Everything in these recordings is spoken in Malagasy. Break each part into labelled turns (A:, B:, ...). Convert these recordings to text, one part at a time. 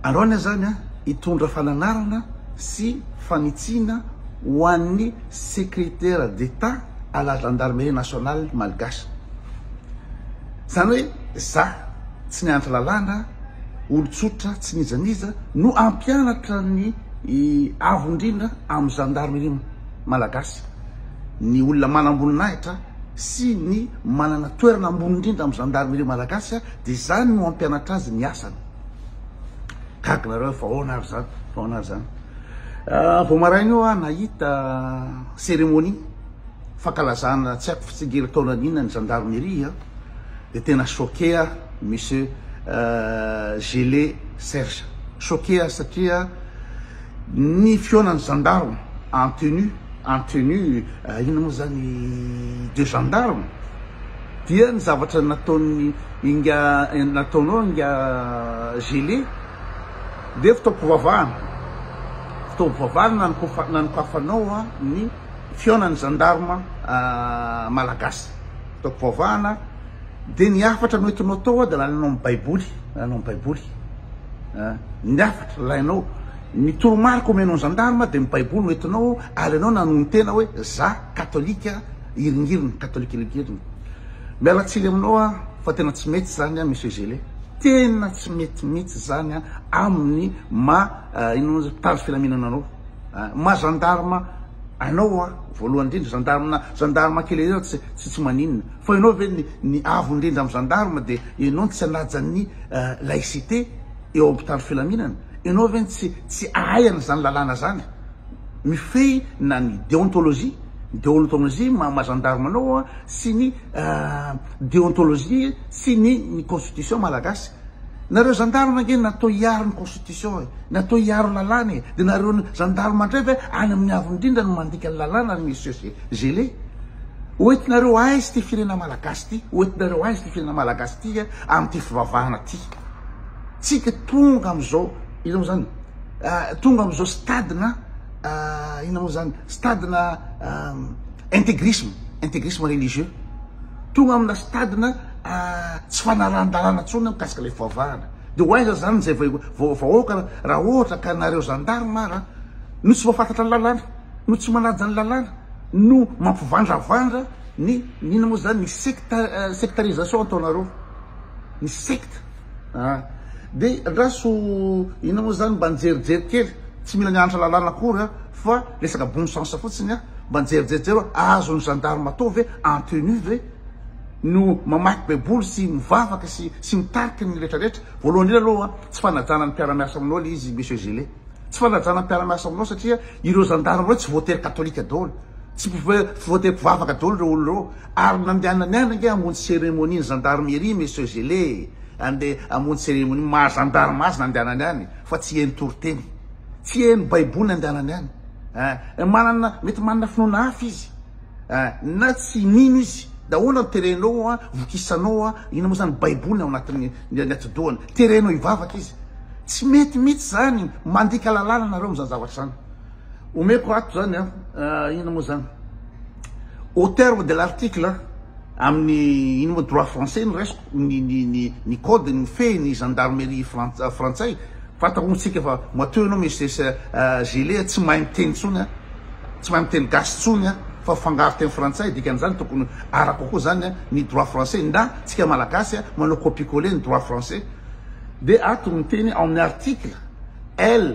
A: Araony zany an, hitondra fananarana sy fanitsiana ho an'ny Secrétaire d'Etat à la Gendarmerie Nationale Malgache. Zany hoe za tsy nianatra lalàna, olon-tsotra tsy n'iza n'iza no hampianatra ny Avo indrindra amin'ny Gendarmerie Malagasy, ny olona manam-boninahitra sy ny manana toerana ambony indrindra amin'ny Gendarmerie Malagasy. Dia izany no hampianatra azy ny asany. Gaga nareo fa ahoana ary izany, fa ahoana ary izany. Ah, vao maraina io aho nahita cérémonie fankalazana tsy haiko fitsingera taona an'inona ny gendarmerie a, dia tena choqué aho monsieur euh, Gelé Serge. Choqué aho satria ny fihaonan'ny gendarme en tenue, en tenue ah, inona moa izany de gendarme. Dia ny zavatra nataon'ny inga nataonao inga Gelé dia fitaom-pivavahana, fitaom-pivavahana nanokafa- nanokafanao ny fihaonan'ny zandarma malagasy, fitaom-pivavahana, dia ny hafatra noentinao tao dia lalanao amin'ny baiboly, lalanao amin'ny baiboly a, ny hafatra lainao, ny toromarika omenao ny zandarma dia ny baiboly noentinao ary ianao nanonon-tena hoe za katolika, Iringiriny catholique iringiriny. Miala tsiny aminao aho fa tena tsy mety zany an Monsieur Gele. Tena tsy mety mitsy zany an aminy ma inona moa zany mpitandro filaminana anao. Ma gendarme anao an voalohany indrindra gendarme na gendarme kely ery aza tsy tsy maninona fa enao ve ny ny avo indrindra am gendarme de enao no tsy anaja ny laicite eo am mpitandro filaminana. Enao ve tsy tsy ahay an zany lalàna zany. mifehy na ny deontologie, deontologie maha maha gendarme anao an, sy ny deontologie sy ny ny constitution malagasy. Nareo gendarme ange natao hiaro ny constitution e, natao hiaro lalàna e, de nareo gendarme ndray ve any amin'ny avo indrindra no mandika ny lalàna ry monsieur ce gelé? Ho entinareo aiza ity firenena malagasy ity, ho entinareo aiza ity firenena malagasy ity amin'ity fivavahana ity? Tsika tonga amin'izao. Inona moa zany? Tonga amin'izao stade-na inona moa zany? Stade-na intégrisme, intégrisme religieux. Tonga amina stade-na tsy fanarahan-dalàna intsony mikasika ilay fivavahana. Dia ho aiza zany izay vahoaka raha ohatra ka nareo gendarme ara no tsy mahafantatra ny lalàna, no tsy manaja ny lalàna, no mampivandravandra ny inona moa zany? Ny secte, sectarisation ataonareo, ny secte. Ah. Dia andraso inona moa izany mba nijerijery kely, tsy mila nianatra lalàna akory an, fa resaka bon sens fotsiny an, mba nijerijery hoe azon'ny gendarme atao ve en tenue ve no mamaky baiboly sy mivavaka sy sy mitarika ny retraretra? Voalohany indrindra aloha an, tsy fanajana ny mpiara-miasa aminao ilay izy monsieur Gillet. Tsy fanajana ny mpiara-miasa aminao satria ireo gendarme ireo tsy voatery katolika daholo, tsy voatery mpivavaka daholo ireo olona ireo. Ary nandehanany any ange hamonjy cérémonie ny gendarmerie Monsieur Gelé e! Andeha hamonjy cérémonie maha gendarme azy nandehanany any fa tsy hihaino toriteny. Tsy hihaino baiboly nandehanany any. Ein! Manana, mety manana finoana hafa izy. Ein! Na tsy mino izy. De ahoana no terenao an, vokisanao an, inona moa zany baiboly ny ao anatin'ny ny atidohany. Terenao hivavaka izy. Tsy mety mihitsy zany. Mandika lalàna nareo amin'izany zavatra izany. Omeko ato zany an, inona moa zany, au terme de l'article, amin'ny ino moa, droit français no raisiko, ny ny ny ny code mifehy ny gendarmerie frantsa frantsay, fantako moa tsika fa matoa ianao Mrs Gillet tsy mahay miteny intsony an, tsy mahay miteny gasy intsony an, fa fangaro teny frantsay, dikan'izany tokony arako koa zany an ny droit français, na tsika malagasy an manao copier coller ny droit français, dia ato miteny ao amin'ny article L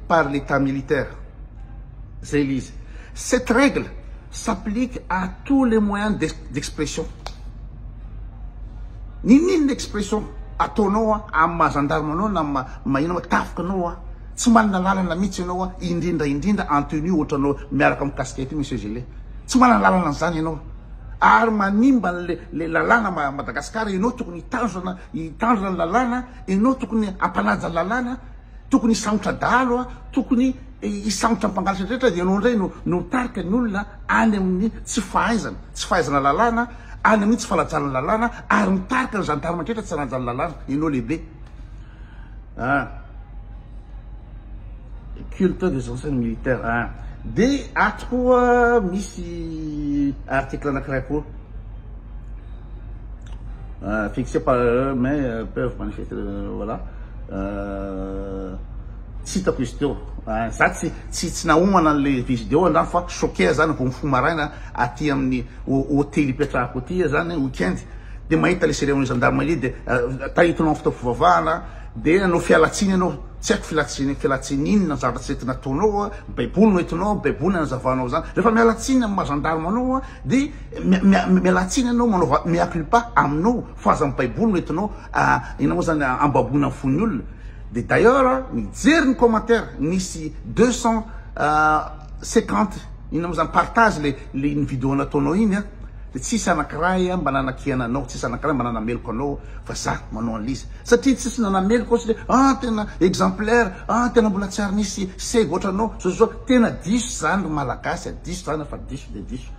A: par l'Etat militaire, zay le izy. Cette règle s'applique à tous les moyens d'expression. Ninoninona expression ataonao amin'ny maha gendarme anao na maha inona, tafika anao an, tsy manana lalana mihitsy ianao an, indrindra indrindra en tenue ohatranao miaraka amin'ny casquette io monsieur gelé, tsy manana lalana an'izany ianao ary manimba le lalàna Madagascar, ianao tokony hitandrina ny lalàna, ianao tokony hampanaja lalàna. Tokony hisamotra dahalo a, tokony hisamotra ny mpangalatra rehetra, dia ianao indray no no mitarika ny olona any amin'ny tsy fahaizana, tsy fahaizana lalàna, any amin'ny tsy fanajanana lalàna, ary mitarika ny gendarme rehetra tsy hanaja ny lalàna, ianao lehibe an! culte des anciens militaires an! dia ato koa misy article anankiray koa fixé par erreur mais peuvent manifester voilà tsy hitako izy teo za tsy tsy tsy nahomana le visdeo andrano fa choquer zany vao mifoha maraina aty amin'ny hôtely ipetrahako aty zany weekend de mahita le cérémonie gendarmerie de tahitinao amin'ny fitaovy fivavahana de anao fialatsiny anao tsy haiko filatsiny fialatsiny inona zavatra tsy entina ataonao baiboly no entinao baiboly no anazavanao zany rehefa mialatsiny amin'ny maha gendarme anao de Miala tsiny anao manaova mea culpa aminao fa aza ny baiboly no entinao inona moa zany ambaboina ny fon'ny olona de d'ailleurs mijery ny commentaire nisy deux cent cinquante inona moa zany partage le le iny video nataonao iny a de tsisy anankiray mba nanakihana anao tsisy anankiray mba nanameloka anao fa za manao an'liza satria tsisy nanameloka aho satria ah tena exemplaire ah tena mbola tsy ary nisy seza ohatranao zao zao tena diso zany ry malagasy a diso zany fa diso de diso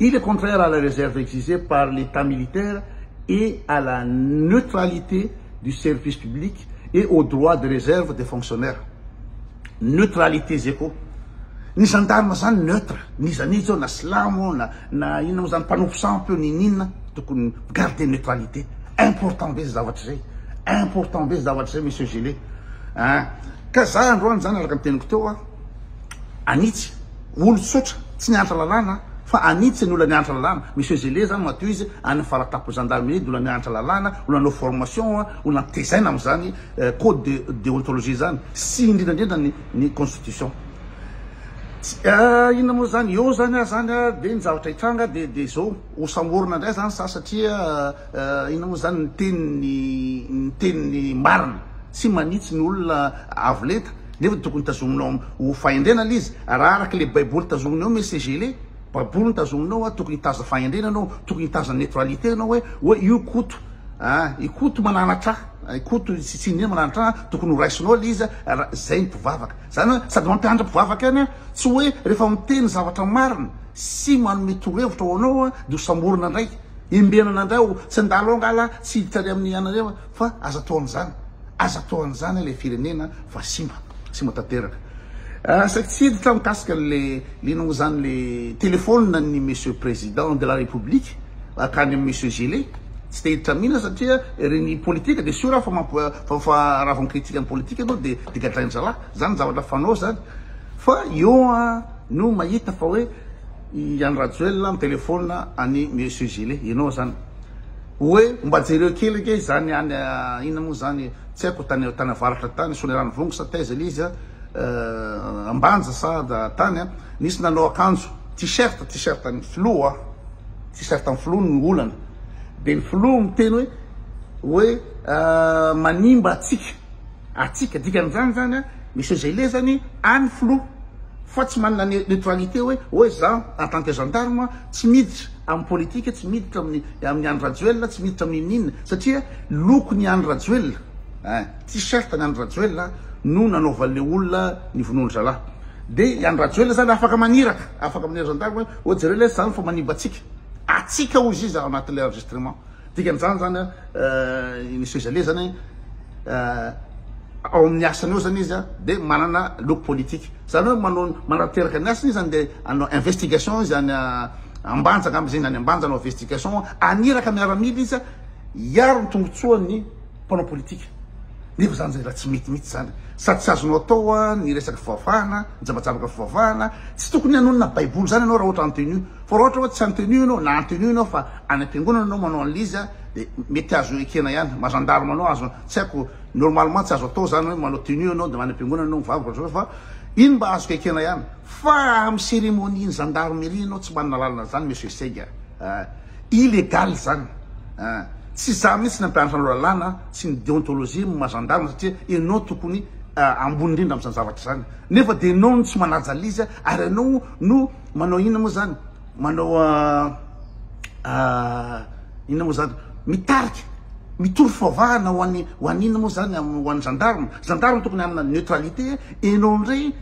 A: et le contraire à la réserve exigée par l'Etat militaire et à la neutralité du service public et au droit de réserve des fonctionnaires. Neutralité zay koa. Ny gendarme zany neutre, n'iza n'iza eo na silamo na na inona moa zany mpanompo sampy io n'inon'inona tokony garder neutralité. Important be zay zavatra zay. Important be zay zavatra zay Monsieur Gillet. An! Ka za androany zany araka ny teniko teo a. anitsy olo tsotra tsy niantra lalàna fa anitsy ny ola niantra lalàna monsieur zele zany matoa izy any faratapo gendarmerie de ola niantra lalàna ola anao formation a ola antezaina amzany code de deontologie zany sy indrindrandrindra ny ny constitution inona moa zany eo zany ah zany ah de ny zavatra hitranga de de zao ho samborina ndray zany za satria inona moa zany ny teniny ny teniny marina tsy manitsy ny olona avo lenta Nefa dia tokony tazominao ho fahendrena le izy raha araka le baiboly tazominao hoe messager le baboly no tazominao hoe tokony hitaza fahendrena anao tokony hitaza neutralité anao hoe hoe io koto ah i koto mananatra i koto tsy tsy indrindra mananatra tokony ho raisinao le izy raha zay ny mpivavaka zany hoe sady mampianatra mpivavaka ihany ah tsy hoe rehefa miteny zavatra marina sy manome torohevitra ho anao ah dia ho samborina indray hembenana indray ho tsy handalo angala tsy hiditra any amin'ny anareo Fa aza atao an'izany, aza atao an'izany ilay firenena fa simba, simba tanteraka. Saiky tsy hiditra mikasika an'le liana zany le telephone ny Monsieur Président de la République akany amin'ny Monsieur Gillet, tsy te hiditra mihina satria ry ny politika de sûr fa mamp fa fa raha vao mi-critique ny politika ianao de de gadrain'ny zalahy, zany zavatra fanao zany fa eo no mahita fa hoe i Andry Rajoelina mi-telephone an'i Monsieur Gillet, ianao zany Oe mba jereo kely ange izany any inona moa izany tsy haiko tany tany avaratra tany Soanierano Vongo sa taiza ilay izy a Ambanja sa tany a nisy nanao akanjo t-shirt t-shirt an'ny filoha t-shirt an'ny filoha no olana dia ny filoha miteny hoe hoe manimba antsika Atsika, dikan'izany zany a Monsieur Zaileizany any filoha fa tsy manana neutralité hoe oe za en tant que gendarme tsy miditra amin'ny politique tsy miditra amin'ny amin'ny Andry Rajoelina tsy miditra amin'ny inona inona satria lokon'i Andry Rajoelina eh t-shirt an'i Andry Rajoelina no nanaovan'le olona ny vonoan-dry zalahy de i Andry Rajoelina zany afaka maniraka afaka maniraka gendarme hoe oe jereo lay zany fa manimba antsika atsika hoy izy izy ao anatin'le enregistrement Dikan'izany zany i Monsieur Jalé zany ao amin'ny asany ao zany izy dia manana loko politika. Zany hoe manao manatanteraka ny asany izy zany dia hanao investigation izy any Ambanja angamba izy iny any Ambanja hanao investigation haniraka miaramila izy hiaro ny tombotsoan'ny mpanao politika. Nefa zany zay raha tsy mety mihitsy zany sady tsy azonao atao ny resaka fivavahana, ny jabajabaka fivavahana, tsy tokony hanonona baiboly zany ianao raha ohatra en tenue fa raha ohatra hoe tsy en tenue ianao na en tenue ianao fa any ampiangonana anao manao anle izy dia mety azo ekena ihany ma gendarme anao azo tsy haiko normalement tsy azo atao zany hoe manao tenue anao dia any ampiangonana anao mivavaka ohatry izao fa iny mba azoko ekena ihany fa amin'ny cérémonie ny gendarmerie ianao tsy manana lalana an'izany monsieur seg a illégal zany a tsy za mihitsy nampianatra anao lalàna sy ny déontologie ny maha gendarme satria ianao tokony ambony indrindra amin'izany zavatra izany nefa dia ianao no tsy manaja an'le izy ary ianao no manao inona moa zany Manao inona moa zany? Mitarika, mitory fivavahana ho an'ny ho an'inona moa zany? Ho an'ny gendarme. Gendarme tokony hanana neutralité e. Ianao indray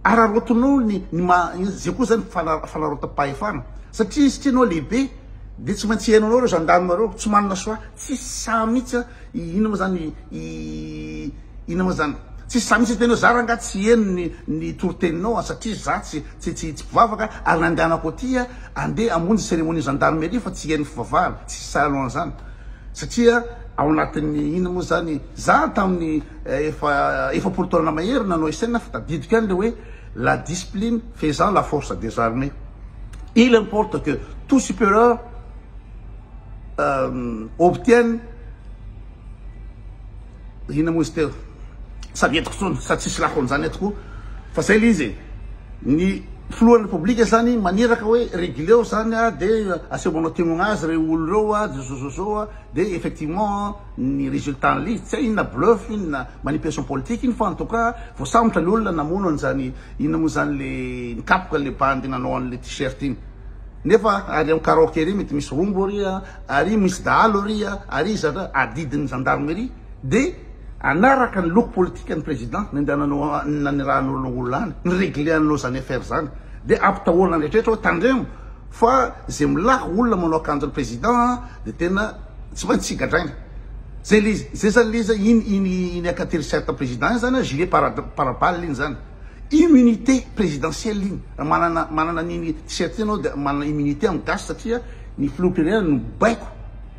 A: araraotinao ny ny maha izay koa zany fana- fanarautam-pahefana. Satria satria ianao lehibe dia tsy maintsy hihaino anao ireo gendarme ireo. Tsy manana choix. Tsisy saha mihitsy a. I inona moa zany i inona moa zany. Tsisy za mihitsy tena hoe za rangah tsy heno ny ny toriteninao a satria za tsy tsy tsy tsy mpivavaka ary nandehanako aty a andeha hamonjy cérémonie gendarmerie fa tsy heno fivavahana tsisy sahy an'zany satria ao anatin'ny inona moa zany za tamin'ny efa efapolo taona mahery nanao SN fa tadidiko ihany le hoe la discipline faisant la force des armées il importe que tout superieur Obtienne inona moa izy teo? Sady entiko intsony sady tsisy lako amin'izany eto koa fa izay ilay izy e! Ny filohan'ny Repoblika izany maniraka hoe reguleo izany dia aseho manao témoin azy ireo olona ireo dia zo zo zo dia effectivement ny résultat an'ilay izy tsy hay inona bluff iny na manipulation politique iny fa en tout cas voasambotra ilay olona namono an'izany inona moa izany ilay nikapoka ilay bandy nanao an'ilay t-shirt iny. Nefa ary am karaoke ry mety misy rombo ry a, ary misy dahalo ry a, ary iza ra adidin'ny gendarmerie de anaraka ny loko politikan'ny président nandehananao nanirahanao lo olona any, ny regleanao zany affaire zany de ampitahorana ny rehetra hoe tandremo fa ze milaka olona manao akanjon'ny président a de tena tsy maintsy tsy gadraina zay le zay zany le izy iny iny iny akateriserte président iny zany a gilet para para balle iny zany. Immunité présidentielle iny. Raha manana manana an'iny t-shirt iny anao dia manana immunité amin'ny gasy satria ny filoham-pirenena no mibaiko.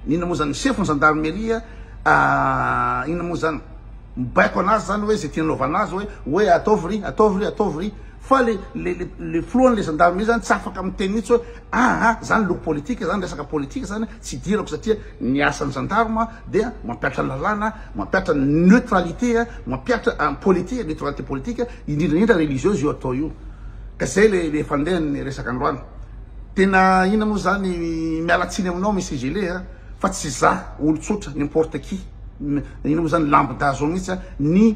A: Inona moa izany? Ny sefo ny zandarimeria ah, inona moa izany? Mibaiko an'azy izany hoe izay tiany hanaovana azy hoe hoe ataovy ry, ataovy ry, ataovy ry. Fa le le le filohan'ilay zandarimeria izany tsy afaka miteny mihitsy hoe Ah ah, zany loko politika zany, resaka politika zany tsy idirako satria ny asan'ny gendarme dia mampihatra ny lalàna, mampihatra ny neutralité, mampihatra an politika, neutralité politika, indrindra indrindra religieuse io atao io. Ka zay le le fandehan'ny resaka androany. Tena inona moa zany, miala tsiny aminao Monsieur Gele a, fa tsy za olon-tsotra n'importe qui, inona moa zany lambda zao mihitsy a, ny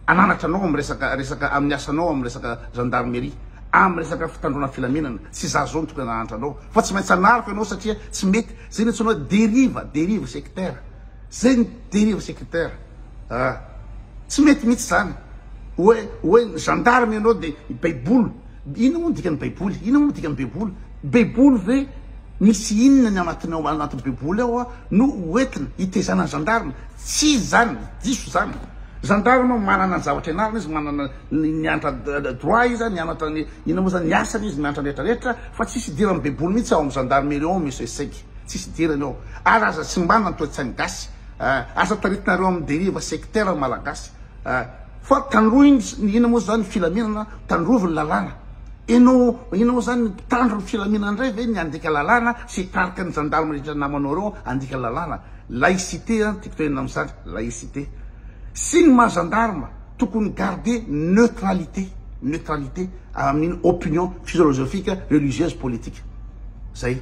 A: ananatra anao amin'ny resaka resaka amin'ny asanao amin'ny resaka gendarmerie. amin'ny resaka fitandroana filaminana, tsy za zao mitokona nahantra anao fa tsy maintsy anariko ianao satria tsy mety zay ny antsoina hoe deriva, derive sectaire, zay ny deriva sectaire ah tsy mety mihitsy zany hoe hoe gendarme ianao de baiboly inona moa ny dikan'ny baiboly, inona moa ny dikan'ny baiboly, baiboly ve misy inona ny anatiny ao anatin'ny baiboly ao ah no hoentina hitezana ny gendarme, tsy izy zany, diso zany, gendarme manana ny zavatra ianarana izy, manana. Ny miantra droit izy an, mianatra ny inona moa zany, ny asany izy miantra ny rehetra rehetra fa tsisy idirany baiboly mihitsy ao am gendarmerie ao misy hoe sec, tsisy idirany ao, ary aza simbana ny toetsainy gasy ah, aza taritinareo am deriva sectaire ny malagasy ah, fa tandroiny ny inona moa zany ny filaminana, tandrovy ny lalàna, enao inona moa zany ny mpitandro ny filaminana ndray ve ny handika lalàna sy hitarika ny gendarme rehetra namanao reo handika lalàna, laïcité an, tiako tenenina am zany, laïcité, sy ny maha gendarme. tokony garder neutralité, neutralité amin'ny opinion physiologiofique, religieuse, politique. Zay.